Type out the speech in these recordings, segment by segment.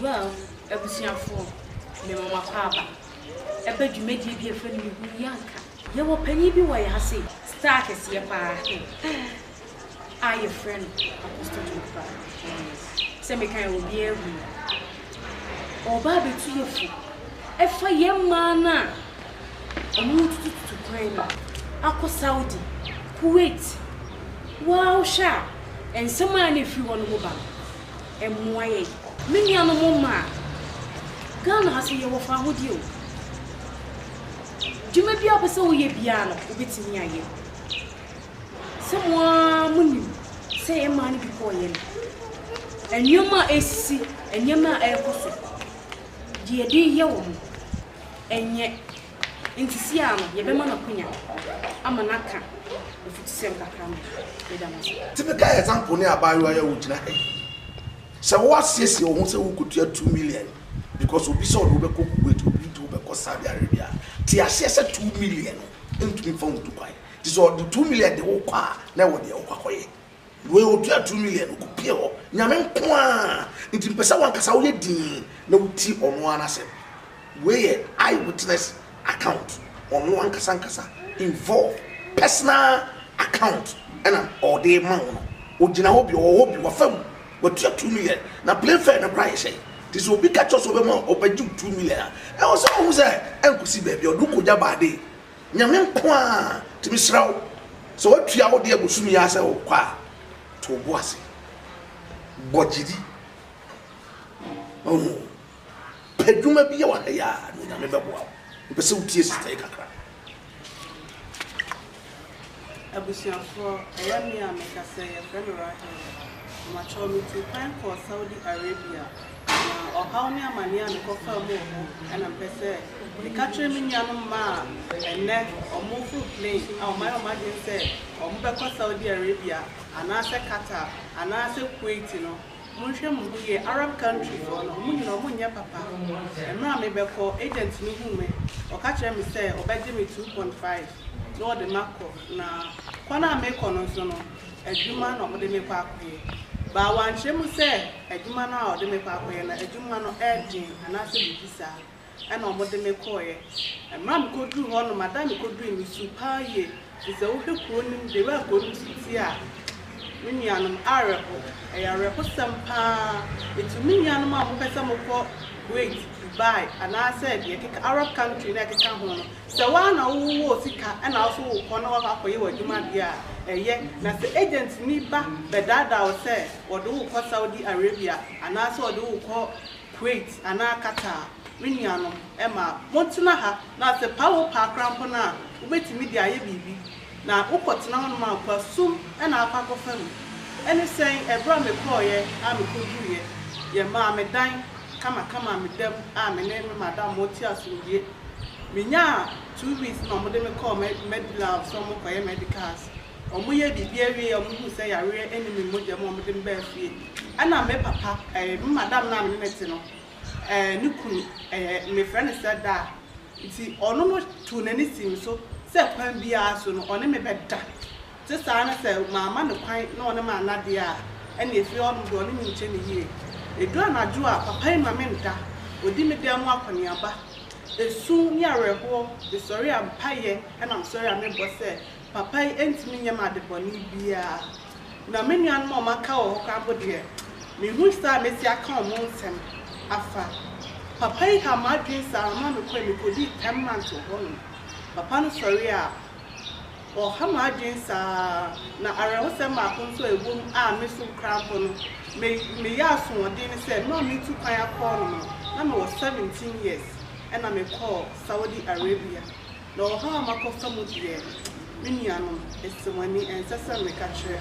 Well, abusuafoɔ, me mo makɔ aba. Ɛbɛ dwumadie bi ɛfɛ no me hu yɛ anka. Yɛwɔ panyin bi wɔ yɛ ha sei, star kɛseɛ paa. A yɛfrɛ no Apostle John Star. Sɛ meka yɛ obiara hu no. Ɔreba abɛtu yɛn fo ɛfa yɛn mmaa no a wɔretutututu kwan no akɔ Saudi, Kuwait, woaa wohwɛ a nsɛm a na ɛfiri hɔ no mo ba no ɛmmoa yɛn. Me nua no mo mmaa, Ghana ha so yɛwɔ faahodie o, dwuma biara wopɛ sɛ woyɛ biara no wobɛtumi ayɛ. Sɛ mo ara monim sɛ yɛn mmaa no bi kɔɔ yɛn nneɛma a ɛresisi, nneɛma a ɛrekɔ so, deɛ yɛde reyɛ wɔn, ɛnyɛ nti siaa no yɛbɛma no akwanya ama no aka afutusɛm kakra ma yɛn. Yɛda mo ase. Typical example ne abaayewa yi a ogyina ha yi. Sɛ wo asiesie wo ho sɛ wo kɔtua two million because obi sɛ ɔde wo bɛkɔ Kuwait, obi nti wo bɛkɔ Saudi Arabia a, te aseɛ sɛ two million no ntumi mfa wo ntu kwan. Nti sɛ ɔde two million de wo kɔ a, na ɛwɔ deɛ wokɔ akɔyɛ. Wei ɔtua two million, ɔkɔpie hɔ. Nyame nko ara. Nti mepɛ sɛ wankasa woyɛ dinn na wotie ɔno ara n'asɛm. Wei yɛ eye witness account. Ɔno ankasa ankasa involved. Personal account ɛna ɔde rema wo no. Ɔgyina hɔ bi, ɔwɔ hɔ bi, wafa mu. Watua two million. Na plane fare no koraa yɛ hyɛn. Nti sɛ obi ka kyerɛ wo sɛ ɔbɛma wo, ɔbɛgye wo two million a, ɛwɔ sɛ wohu sɛ ɛnkɔsi baabi a ɔde wo kɔgya baa dee. Nyame nko ara nti mesrɛ wo sɛ woatua wo deɛ bosom yi ara sɛ wokɔ a to wo bo ase bɔ gyidi ɔho pɛ dwuma bi yɛ wɔ ha yi a na Onyame bɛboa wo mepɛ sɛ wotie sista yi kakra Abusuafoɔ, ɛyɛ me a mekasa yi, yɛfrɛ me Rahel. Mpakyɛw, metuu kwan kɔɔ Saudi Arabia, na ɔhaw ne amaneɛ a mekɔfaa mu wɔ hɔ na mepɛ sɛ meka kyerɛ me nuanom mma a ɛnnɛ wɔreforo plane a wɔayɛ wɔn adwene sɛ wɔbɛkɔ Saudi Arabia anaasɛ Qatar anaasɛ Kuwait no. Monhwɛ mo ho yie, Arab country foɔ no, wɔn nyinaa wɔnyɛ papa. Mmerɛ a mebɛkɔ, agent no huu me, ɔka kyerɛɛ me sɛ ɔbɛgye me two point five. na wɔde me akɔ, na kwan a merekɔ no nso no, adwuma na wɔde me rekɔ akɔyɛ. But wɔankyerɛ mu sɛ adwuma no a wɔde me rekɔ akɔyɛ no, adwuma no den anaasɛ biribi saa, ɛnna wɔde me kɔeɛ. Mmerɛ a mekɔduruu hɔ no, m'ada a mekɔduruui no, mesuu paa yie, firi sɛ wohwɛ kuro no mu, the way a kuro no si teɛ a, me nuanom, awerɛho, ɛyɛ awerɛhosɛm paa. Nti me nuanom a wɔpɛ sɛ wɔkɔ Kuwait, Dubai, anaasɛ deɛ ɛkeka, Arab country no a ɛkeka ho no, Sɛ woa na wo wɔ sika na wo so wo kɔ na wakɔ akɔyɛ w'adwuma deɛ a, ɛyɛ. Na sɛ agent ni ba bɛdaadaa wo sɛ ɔde wo kɔ Saudi Arabia anaa sɛ ɔde wo kɔ Kuwait anaa Qatar a, me nuanom, ɛmaa motena ha. Na sɛ paa wo paa koraa mpo no a, wobɛtumi de ayɛ biribi. Na wo kɔ tena hɔ nom a, kwa sum na akɔ akɔ fa mu. Ɛne sɛn? Ɛberɛ a me kɔeɛ a me kɔ duruiɛ, yɛ maa me dan kama kama me da mu a me ne me madam mo te asomdwie. Menyaa two weeks ma wɔde me kɔɔ Medilab sɛ wɔnkɔyɛ medicals. Wɔyɛɛ biribiara wieeɛ a wɔhuu sɛ yareɛ nni me mogya mu a wɔde me baa fie. Ɛna me papa, ɛɛ, me madam no a me ne no te no, ɛɛ, ne kunu, ɛɛ, mefrɛ no sɛ Da. Nti ɔno no too n'ani sii me so sɛ kwan biara so no ɔne me bɛda. Te saa ne sɛ mamma no kwan na ɔne me anna deɛ a, ɛnneɛ firi hɔ nom deɛ ɔne me nkyɛ ne yie. Ɛduru anadwo a, papa yi mma me nda, ɔdi me dan mu akɔneaba. Esu ne awerɛhoɔ, mesɔre a, mpaeɛ na mesɔre a mebɔ sɛ papa yi ntumi nyɛ me adebɔne biara. Na me nuanom a wɔaka wɔ hɔ koraa mpo deɛ, menhu saa a mɛsi aka wɔn nsɛm afa. Papa yi haa m'adwene saa ara ma mekɔe, mekɔdii ten months wɔ hɔnom. Papa no sɔre a, Ɔha m'adwene saa ara. Na awerɛhosɛm baako nso a ɛwom a me so kura mpo no, me meyɛɛ asoɔden ne sɛ, mmerɛ a meretu kwan akɔ hɔ nom no, na mewɔ seventeen years ɛna mekɔɔ Saudi Arabia. Na ɔhaw a makɔfa mu deɛ, me nuanom, ɛsɛ mo ani, ɛnsɛ sɛ meka kyerɛ.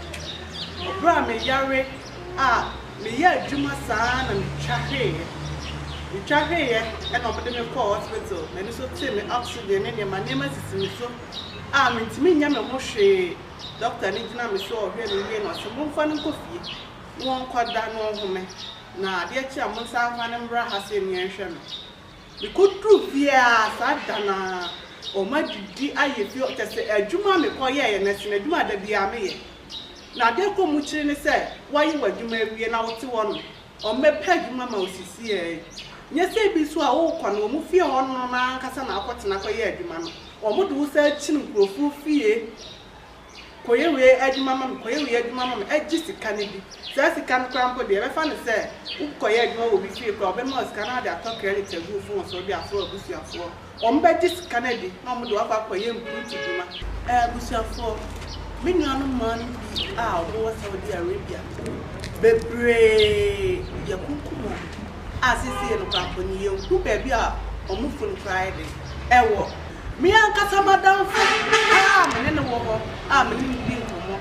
Berɛ a meyare a, meyɛɛ adwuma saa ara na metwa hweeɛ. Metwa hweeɛ ɛna wɔde me kɔɔ hospital, m'ani so tee me oxygen ne nneɛma, nneɛma sisi me so. a mentumi nyɛ me ho hwee Dɔkta no gyina me so ɔhwɛ me wie na ɔse momfa no nkɔ fie na ɔnkɔ da na ɔnhome na adeɛ kye a monsan mfa no mmra ha se me nhwɛ no mekɔ duru fie a saa da no ara wɔn adidi ayɛ fie hɔ kyɛsɛ adwuma a mekɔ yɛɛyɛ no ɛsen adwuma a da biara meyɛ na adeɛ kɔ mu kyere ne sɛ waye w'adwuma awie na wote hɔ nom Wɔbɛpɛ adwuma ma wo sisi ara yi. Nyɛ sɛ ebi nso a worekɔ no, wɔn fie hɔ no na ankasa na woakɔtena akɔyɛ adwuma no. Wɔde wo san kyin nkurɔfo fie kɔyɛ wei adwuma ma me, kɔyɛ wei adwuma ma me, gye sika no bi. Saa sika no koraa mpo deɛ, yɛbɛfa no sɛ wokɔyɛ adwuma wɔ obi fie koraa a, wɔbɛma wo sika na wode atɔ credit agu wo fon so de afrɛ w'abusuafoɔ. Wɔbɛgye sika no adi na wɔde wo akɔ akɔyɛ mpurutu dwuma. Abusuafoɔ, me nuanom mmaa no bi a wɔwɔ Saudi Arabia, bebree yɛakunkum wɔn a seesei no koraa mpo no yɛnhu baabi a wɔn funu koraa de wɔ. Me ankasa m'adamfo a me ne no wɔ hɔ a me ne no di nkɔmmɔ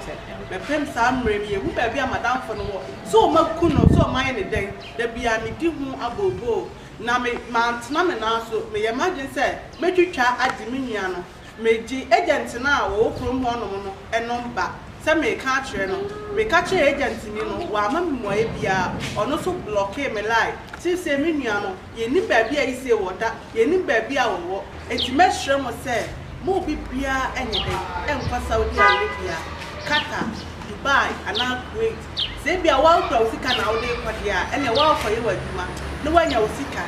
mepem saa mmerɛ no yɛnhu baabi a m'adamfo no wɔ, sɛ wɔaku no, sɛ wɔayɛ no dɛn, da biara medi ho abooboo. Na me, mantena me nan so. Meyɛ m'adwene sɛ mɛtwitwa agye me nua no. Megye agent no a ɔwɔ kurom hɔnom no nom ba sɛ mereka akyerɛ no. Meka kyerɛɛ agentni no, wamma me mmuaeɛ biara. Ɔno nso blɔkee me line. Seesei me nua no, yɛnnim baabi a Issei wɔ da, yɛnnim baabi a ɔwɔ. Enti mɛsrɛ mo sɛ mo mu bibiara nyɛ dɛn nkɔ Saudi Arabia, Qatar, Dubai anaa Kuwait. Sɛ ebia woakura wo sika na wode rekɔ deɛ a, ɛnneɛ woakɔyɛ w'adwuma na woanya wo sika.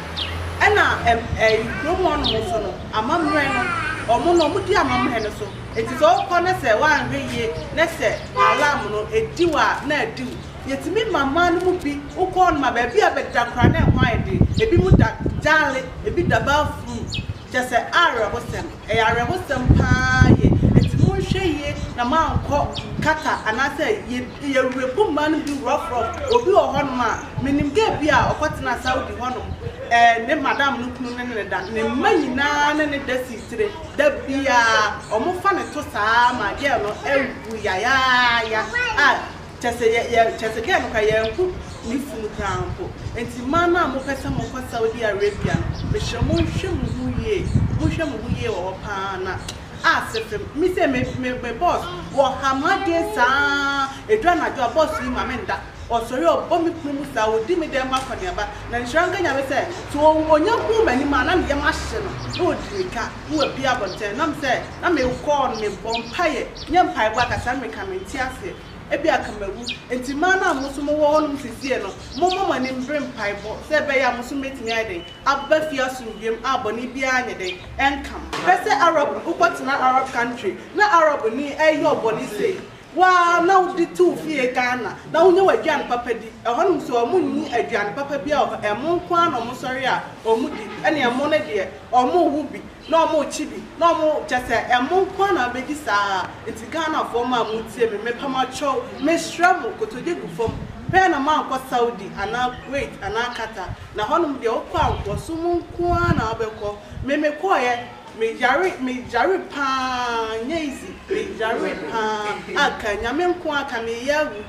Ɛna ɛm ɛɛ kurom hɔnom nso no, amammerɛ no, wɔn no, wɔdi amammerɛ no so. Enti sɛ wokɔ na sɛ woanhwɛ yie na sɛ alarm no, ɛdi wo a, na adi wo. Yɛtumi ma mmaa no mu bi, wokɔ hɔnom a, baabi a bɛda koraa no, ɛhɔ ayɛ den. Ebinom da Gyale, ebi da Bafum. Kyɛ sɛ awerɛhosɛm. Ɛyɛ awerɛhosɛm paa yie. Enti monhwɛ yie na moankɔ Qatar anaasɛ yɛ yɛ werɛfo mmaa no bi rough rough. Obi wɔ hɔnom a menim girl bi a ɔkɔtenaa Saudi hɔnom, ɛɛ ne madam no kunu ne no da. Ne mma nyinaa ne no da si tire. Da biara wɔfa no to saa ara ma girl no awu yayaaya a Kyerɛ sɛ, yɛ, yɛ, kyerɛ sɛ, kɛɛ no koraa, yɛrenhu ne funu koraa mpo. Enti mmaa no a mopɛ sɛ mokɔ Saudi Arabia no, mesrɛ mo nhwɛ mo ho yie, monhwɛ mo ho yie wɔ hɔ pa ara na aase fem. Me sei, me, me, me boss, ɔha m'adwene saa ara, ɛduru anadwo a, boss yi ma mennda. Ɔsɔre a, ɔbɔ me pono mu saa ara, ɔdi me dɛm ho akɔneaba. Na nhyira nka Nyame sɛ, sɛ ɔnya hunu m'anim a, na ne yam ahye no, na ɔdi me ka. no wabue abɔntɛn nam sɛ na me kɔɔ no me bɔ mpaeɛ nyɛ mpaebɔ akasa no meka mente aseɛ ebi anka mawu nti mmaa no a mo nso mo wɔ hɔ nom sesie no mo mmɔ mo ani mbre mpaebɔ sɛ ɛbɛyɛ a mo nso mɛtumi ayɛ dɛn aba fie asomdwoem a bɔne biara anyɛ dɛn ɛnka mo. Hwɛ sɛ Arab no wokɔ tena Arab country na Arab ni ɛyɛ ɔbɔne sei Wo ara na wode too fie Ghana na wonya w'aduane papa di. Ɛhɔnom nso wɔn nni aduane papa biara wɔ hɔ. Ɛmo nko ara na wɔn sɔre a wɔn di. Ɛne ɛmo no deɛ wɔn wo bi na wɔn kye bi na wɔn kyɛ sɛ ɛmo nko ara na wobɛdi saa a. Nti Ghanafoɔ mo a mo tie me, mepɛ mo akyɛw, mesrɛ mo kotodwe gu fam pɛɛ na moankɔ Saudi anaa Kuwait anaa Qatar. Na hɔnom deɛ wokɔ a nkoasom nko ara na wobɛkɔ. Me mekɔeɛ. Me yare me yare paa nyɛ easy me yare paa a ka nyame nko a ka me yɛ awu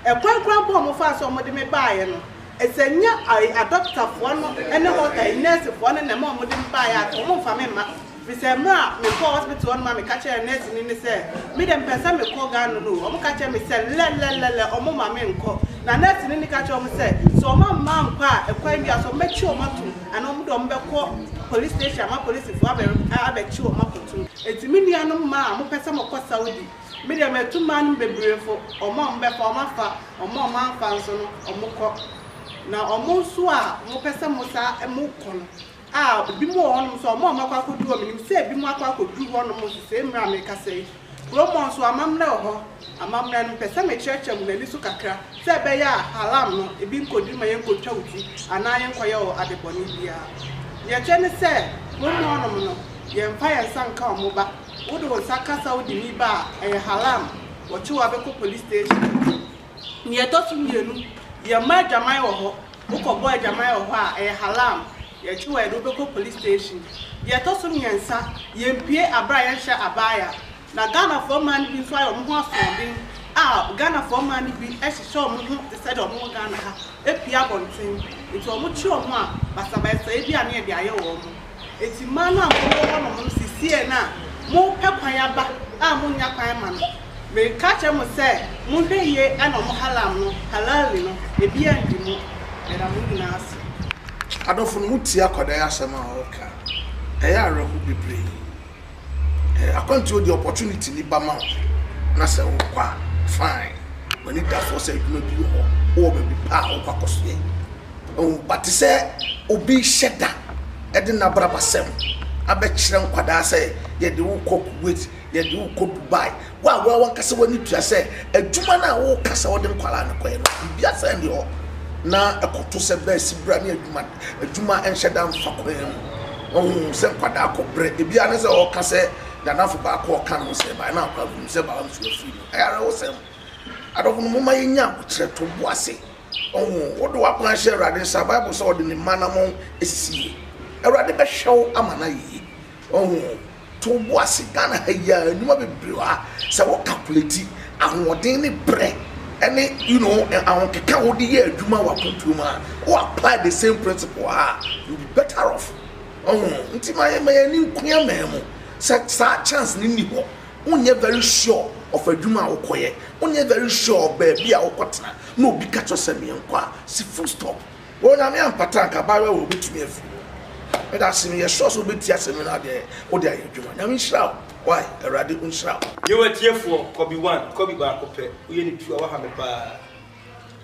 ɛkwan koraa mpo a ɔmo faa so ɔmo de me baayɛ no sɛ nyɛ ai adɔkta foɔ no ɛne hɔ ai nurse foɔ no na ɛma ɔmo de me baayɛ a ka ɔmo nfa me mma firi sɛ mmerɛ a me kɔɔ hospital hɔ nom a me ka kyerɛɛ nurse ni no sɛ me deɛ me pɛ sɛ me kɔ Ghana no ɔmo ka kyerɛ me sɛ lɛlɛlɛlɛ ɔmo ma me nkɔ na nurse ni no ka kyerɛ ɔmo sɛ sɛ ɔmo amma ankɔ a ɛkwan bi a so ɔmo bɛkye ɔmo atom Ana wɔn de wɔn bɛkɔ police station ama polisifo abɛ abɛkye wɔn akɔto. Enti me nuanom mmaa a mopɛ sɛ mokɔ Saudi, me deɛ matu mmaa no mu bebree fo, wɔn a wɔbɛfa wɔn afa, wɔn a wɔamfa nso no wɔkɔ. Na wɔn nso a mopɛ sɛ mosan mokɔ no a, ebinom wɔ hɔnom nso a wɔn a wɔakɔ akɔduru hɔ, menim sɛ ebinom akɔ akɔduru hɔnom sesei mmerɛ a merekasa yi. Kurommɔ nso, amammerɛ wɔ hɔ. Amammerɛ no, mepɛ sɛ mekyerɛkyerɛ mo m'ani so kakra, sɛ ɛbɛyɛ a haram no bi nkoduru ma yɛnkotwa wo ti anaa yɛnkɔyɛ wo ade bɔne biara. Deɛ ɛkyɛ ne sɛ, mo mmoanom no, yɛmfa yɛn nsa nka wɔn ba. Wode wo nsa ka Saudini ba a, ɛyɛ haram. Wɔkye wo abɛkɔ police station. Nea ɛtɔ so mmienu, yɛmmɔ adwaman wɔ hɔ. Wokɔbɔ adwaman wɔ hɔ a, ɛyɛ halaam. Yɛgye wo a, yɛde wo bɛkɔ polis station. Deɛ ɛtɔ so mmiɛnsa, yɛmpue abere a yɛnhyɛ abaya. Na Ghanafoɔ mmaa no bi nso ayɛ wɔn ho asoɔden a Ghanafoɔ mmaa no bi hyehyɛ wɔn ho te sɛ deɛ wɔwɔ Ghana ha, pue abɔnten. Nti wɔkye wɔn a, basabasayɛ bi a na yɛde ayɛ wɔn. Enti mmaa no a mowɔ hɔnom no sesieɛ no a mopɛ kwan aba a monnya kwan mma no, mereka akyerɛ mo sɛ monhwɛ yie na ɔmo halam no, halali no, ebi anndi mo. Yɛda mo nyinaa ase. Adɔfo no, motie akwadaa yi asɛm a ɔreka. Ɛyɛ awerɛhow bebree. akwantuo deɛ opportunity ni ba ma wo na sɛ wokɔ a fine w'ani da soɔ sɛ adwuma bi wɔ hɔ wowɔ baabi pa a wokɔ akɔ so yɛ oh, ba te sɛ obi hyɛ da ɛde n'abrabasɛm abɛkyerɛ nkwadaa sɛ yɛde wokɔ kuwait yɛde wokɔ dubai Wo a woa wankasa w'ani tua sɛ adwuma no a woka sɛ wode nkwadaa no kɔyɛ no, biribi asɛn ne hɔ na ɛkɔto sɛ bɛsi bra ne adwuma adwuma nhyɛ da mfa kwan mu. Ɔhu sɛ nkwadaa kɔ brɛ, ebi ara ne sɛ ɔka sɛ nanafo baako ɔka no sɛ baa na akwadaa hu sɛ baa nso afiri no. Ɛyɛ awerɛhosɛm. Adɔfo no, momma yɛnya ahokyerɛ, to bo ase. Ɔhu wode w'akwan hyɛ Awurade nsa, Bible sɛ ɔde ne mma anammɔn esisi yie. Awurade bɛhwɛ wo ama no ayɛ yie. Ɔho to bo ase Ghana ha yi ara nnwuma bebree wɔ ha sɛ wo calculate ahoɔden ne brɛ ɛne you know ahokeka a wode yɛ adwuma wɔ akwantuo mu a wo apply the same principle wɔ ha a you be better off ɔho nti ma yɛ ma yɛ ani nko yɛ man mu sɛ saa chance ne nni hɔ wonyɛ very sure of adwuma a wokɔyɛ wonyɛ very sure of baabi a wokɔtena na obi ka kyerɛ sɛ meɛnkɔ a si full stop Wo Nyame ampata anka abaayewa wei obetumi afiri hɔ medase meyɛ sure sɛ obetie asɛm yi na adeɛ wode ayɛ adwuma Nyame nhyira wo wai Awurade onhyira wo. Yo atiefoɔ kɔbi one kɔbi baako pɛ woyɛ no two a waha me paa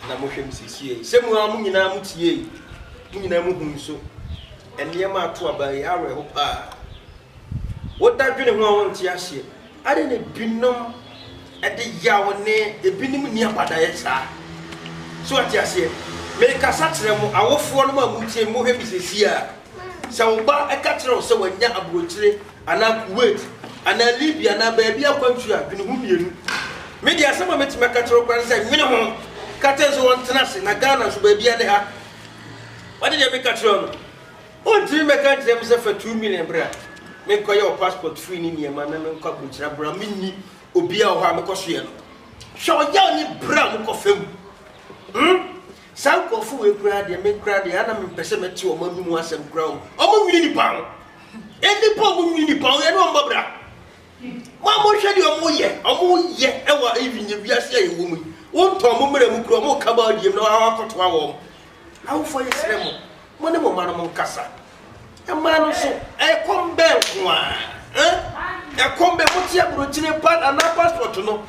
na mohwɛ me siesie yi sɛ mo ara mo nyinaa mo tie yi mo nyinaa mo hu nso nneɛma ato aba yi awerɛho paa. Wo da dwene ho a wo nte aseɛ. Adɛn na ebinom de yaw ne ebinom nni abadaeɛ saa? So wate aseɛ? Merekasa kyerɛ mo awofoɔ nom a motie me, mohwɛ me sesie a. Sɛ wo ba ka kyerɛ wo sɛ wanya aburokyire anaa Kuwait anaa Libya anaa baabi akwantuo a, dwene ho mmienu. Me deɛ asɛm a mɛtumi aka kyerɛ wo koraa ne sɛ nwene ho, ka kyerɛ no sɛ ɔntena ase, na Ghana nso baabiara ne ha. Wate deɛ meka kyerɛ wo no? Ontumi mmɛka nkyerɛ me sɛ fa two million bra menkɔyɛ wo passport fee ne nneɛma na menkɔ akɔgyina bra menni obi a wɔ hɔ a mekɔ so yɛ no. Hwɛ ɔyaw ne bra mu kɔfa mu. Hmm saa nkurɔfo wei koraa deɛ me koraa deɛ a na mempɛ sɛ mɛte wɔn anom asɛm koraa o. Wɔn nwene nnipa ho. Nnipa a wɔn nwene nnipa ho yɛne wɔn bɔ bra. Mo a monhwɛ deɛ wɔn yɛ wɔn yɛ ɛwɔ even yɛ wiase a yɛwɔ mu yi. Wontɔn mo mmerɛ mu koraa wɔn ka baa diem na wɔn akɔtoa wɔn. Awofoɔ yɛsrɛ mo Mo ne mo mmanom nkasa. Mmaa no nso, ɛkɔm bɛn nko ara? Eh? Ɛkɔm bɛn? Mote aburokyire pa anaa passport no?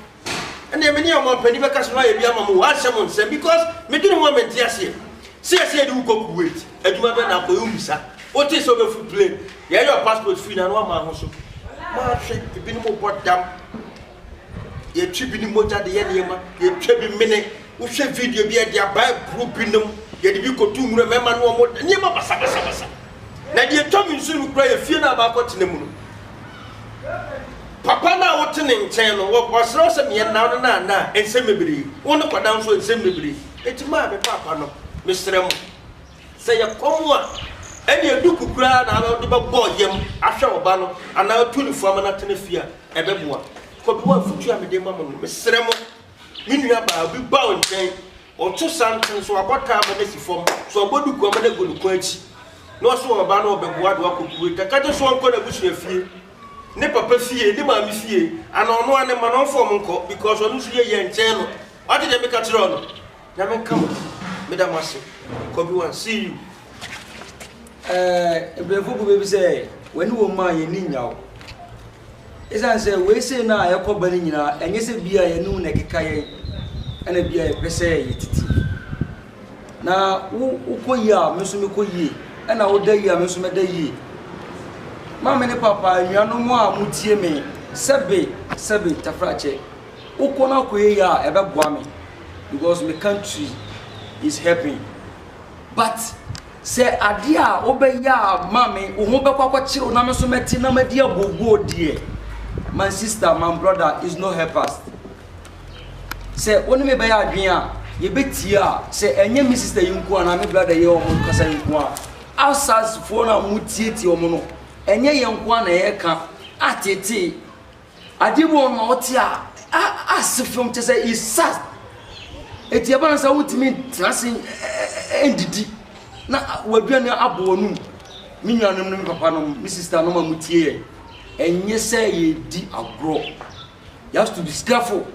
Ɛnna me ne ɔmanpanin bɛka so no ayɛ bi ama mo, wɔahyɛ mo nsɛm because medwene ho a mente aseɛ. Sɛ yɛsɛ yɛde wo kɔ Kuwait, adwuma bɛn na akɔyɛ? Wommisa. Wotee sɛ wobɛfu plane? Yɛyɛ wo passport fii no a na woamma ho so. Mahwɛ, ebinom bɔ dam. Yɛtwe bi ne mogya de yɛ nneɛma. Yɛtwa bi mene. Wohwɛ video bi a, yɛde aba aburo binom. Yɛde bi kɔto nwura, mmarima ne wɔn da, nneɛma basabasabasa. Na deɛ ɛtwa me nsu no koraa yɛ fie no a makɔtena mu no. Papa no a wote ne nkyɛn no, ɔsrɛ wo sɛ meɛ nnaw no na nna a, nsɛm bebree. Wo ne kɔda nso a, nsɛm bebree. Enti mo a, me paapa no, mesrɛ mo, sɛ ɛyɛ kɔm a, ɛnneɛ duku koraa na wode bɛbɔ yam ahwɛ wo ba no anaa atu no fua ma no atena fie a, Ɛbɛboa. Kwaku, afotu a mede rema mo no, mesrɛ mo, me nuabaa, obi ba wo nkyɛn, ɔto santen, sɛ wabɔ taa ama no asi fam, sɛ wabɔ duku ama no agu ne kɔn akyi, na ɔse ɔreba no, ɔbɛboa de wakɔ kurow yi, ka kyerɛ no sɛ ɔnkɔ n'abusua fie, ne papa fie, ne maame fie, anaa ɔno ara ne mma no, ɔmfa wɔn nkɔ, because ɔno nso yieyɛ nkyɛn no. Wate deɛ meka kyerɛ wo no? Nyame nka mo meda mo ase Kobe one see you. Ɛɛ Brɛfo kube bi sɛ w'ani wɔ mu a yɛn ani nnya wo. Esiane sɛ wei sei no a ɛkɔ ba no nyinaa ɛnyɛ sɛ bi a yɛne wo na ɛkeka yɛn ɛna bi a yɛpɛ sɛ yɛtutu. Na wo wokɔ yie a me nso mekɔ yie ɛna woda yie a me nso mɛda yie. Maame ne papa, anuanom a motie me, sɛbe sɛbe Tafrakyɛ. Wokɔ no akɔ yie a ɛbɛboa me because me country is helping but sɛ adeɛ a wobɛyɛ a ma me wo ho bɛkɔ akɔkyere wo na me nso mɛte na madi abooboo deɛ my sister my brother is no help us sɛ wo ne me bɛyɛ adwene a yɛbɛtie a sɛ ɛnyɛ me sister yi nko a na me brother yi wɔn kasa yi nko a outsidefoɔ no a wɔtietie wɔn no ɛnyɛ yɛn nko a na yɛka atetee Ade bi wɔ no a ɔte a ase fam kyɛ sɛ isa eti ɛba no sɛ wotumi tena ase ndidi na waduane abɔ w'anum me nuanom no me papa nom me sista nom a mo tie yɛ ɛnyɛ sɛ yɛdi agorɔ you have to be careful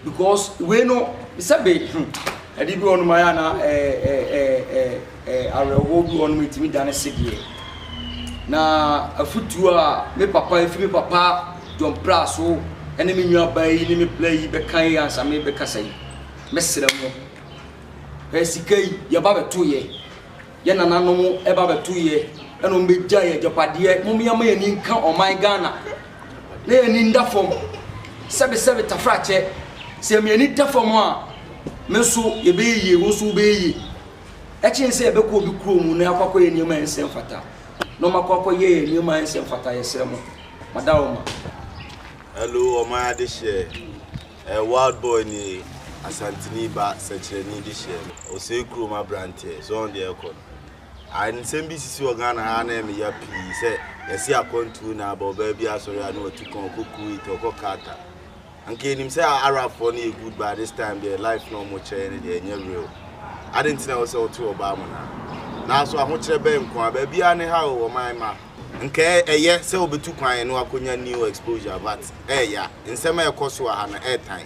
Because wei no sɛbe hmm ade bi wɔ hɔ nom ayɛ a na awerɛhoɔ bi wɔ hɔ nom ɛtumi dane sedeɛ. Na afutuo a me papa ɛfiri me papa John Prah so ɛne me nua baa yi ne me bla yi bɛka yi ansa me bɛkasa yi, mɛsrɛ mo, hwɛ sika yi yɛba bɛtoeɛ. Yɛn nananom ba bɛto yɛ na wɔn bɛgya yɛ agyapadeɛ mom yɛn ma yɛn ani nka ɔman Ghana na yɛn ani nda fam sɛbe sɛbe tafrakyɛ sɛ mi ani da fam a me nso yɛbɛyɛ yie wo nso wobɛyɛ yie ɛkyɛn sɛ yɛbɛkɔ obi kuro mu na yɛakɔ akɔ yɛ nneɛma yɛn nsɛm fata na wɔn akɔ akɔ yɛ yɛ nneɛma yɛn nsɛm fata yɛsrɛ mo madawoma. Hello, ɔman adehyeɛ. Ɛyɛ wild boy ni asanteni ba sɛkyerɛni de hyɛɛ me. Osei kurom abranteɛ so ɔn deɛ ɛkɔ no ae nsɛm bi sisi wɔ Ghana ha a na ɛme ya pii sɛ yɛse akwantuo na aba ɔbaa bi asɔre a na watu kɔn ɔkɔ Kuwait ɔkɔ Qatar anka yɛnim sɛ Arab foɔ no yɛ good but this time deɛ life na ɔmo kyerɛ yɛne deɛ ɛnyɛ real aden nti na ɛwɔ sɛ wote ɔbaa mu no a naaso ahokyerɛ bɛn nko a baabiaa ne ha o ɔman ma Nka ɛyɛ sɛ wobetu kwan na wɔakonya new exposure but ɛyɛ ya. Nsɛm a ɛkɔ so wɔ ha no ɛretan.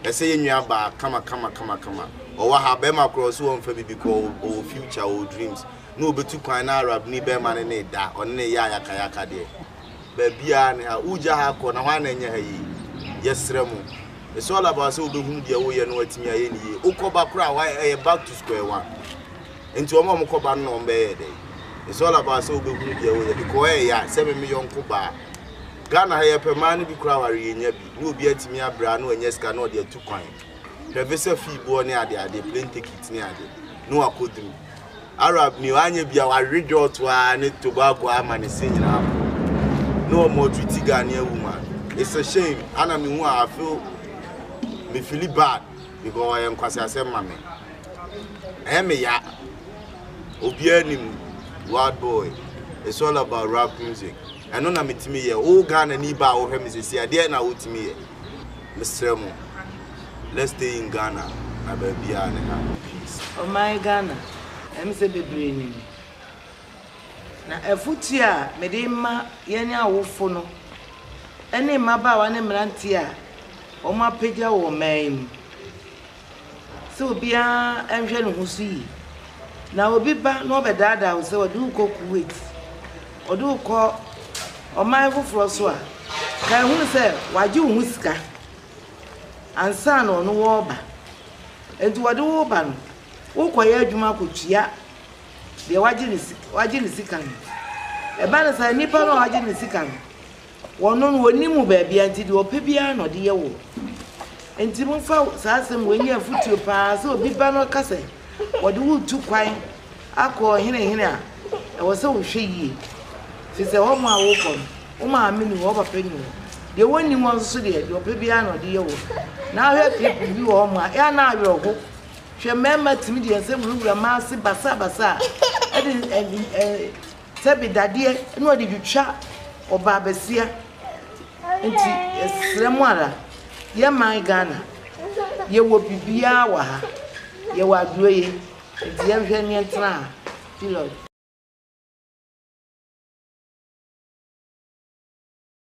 Ɛsɛ yɛn nua baa kamakamakamakama. Ɔwɔ ha, barima koro a ɔse ɔmfa bibi kɔ, ɔwɔ future, ɔwɔ dreams. Na obetu kwan na Arabni barima ne no reda, ɔne no reyɛ ayakayaka deɛ. Baabiara ne ha. Wogya ha kɔ, na hwan na ɛnyɛ ha yie? Yɛsrɛ mo. It's all about sɛ wobehunu deɛ woreyɛ na woatumi ayɛ no yie. Wokɔ ba koraa a, ɛyɛ back to square one. Enti wɔn a wɔkɔ ba no na wɔn bɛyɛ dɛn? It's all about sɛ wobɛhunu deɛ woyɛ because ɛyɛ ya sɛ me me yɔnko baa. Ghana ha yɛpɛ maa no bi koraa aware yɛnya bi ne obi atumi abrɛ a na wanya sika na ɔde atu kwan. Hwɛ visa fee boɔ ne ade ade, plane ticket ne ade ne wakɔduru. Arab ni wanyɛ bi a wawe dwɔɔto ara ne Tobago ara ama ne se nyinaa aporɔ. Ne wɔn treat Ghanaian woman. It's a shame. Ana mehu a I feel me fili bad because ɔyɛ nkwaseasɛm ma me. Ɛyɛ me ya. Obiara nim Wild Boy. It's all about rap music. Ɛno na metumi yɛ. Wo Ghanani ba a wohwɛ me sisi a, deɛ na wotumi yɛ? Mesrɛ mo, let's stay in Ghana na baabiara ne ha. Peace. Ɔman Ghana, ɛm sɛ bebree nim. Na afotuo a mede rema yɛn awofo no ne mmabaawa ne mmeranteɛ a wɔapagya wɔ ɔman yi mu. sɛ obiara nhwɛ ne ho so yie. Na obi ba na ɔbɛdaadaa wo sɛ ɔde wo kɔ Kuwait, ɔde wo kɔ ɔman foforɔ so a, kae hunu sɛ wagye wo ho sika ansa na ɔno wɔreba. Nti wɔde wo ba no, wokɔyɛ adwuma kɔtua deɛ wagye ne sika no. Ɛba no saa, nipa no a wagye ne sika no, Wɔno no wɔnnim wo baabia nti deɛ ɔpɛ biara na ɔde yɛ woɔ. Nti momfa saa asɛm wei nyɛ afotuo paa sɛ obi ba na ɔka sɛ wɔde wo retu kwan akɔ ɔhene hene a, ɛwɔ sɛ wohwɛ yie. Firi sɛ hɔ mo a wokɔ no, wo maame nni hɔ, wo papa nni hɔ. Deɛ wɔnni hɔ nso so deɛ, deɛ ɔpɛ biara na ɔde yɛ woɔ. Na ahwɛ clip bi wɔ hɔ mo a, ɛa na awerɛho. Hwɛ mmarima tumi deɛ nsɛ wurawura mmaa ase basaa basaa ɛde Sɛbi dadeɛ na ɔde twitwa ɔbaa basia nti yɛsrɛ mo ara yɛ man Ghana yɛwɔ biribiara wɔ ha yɛwɔ adroyɛ nti yɛnhwɛ ne yɛntena ha period.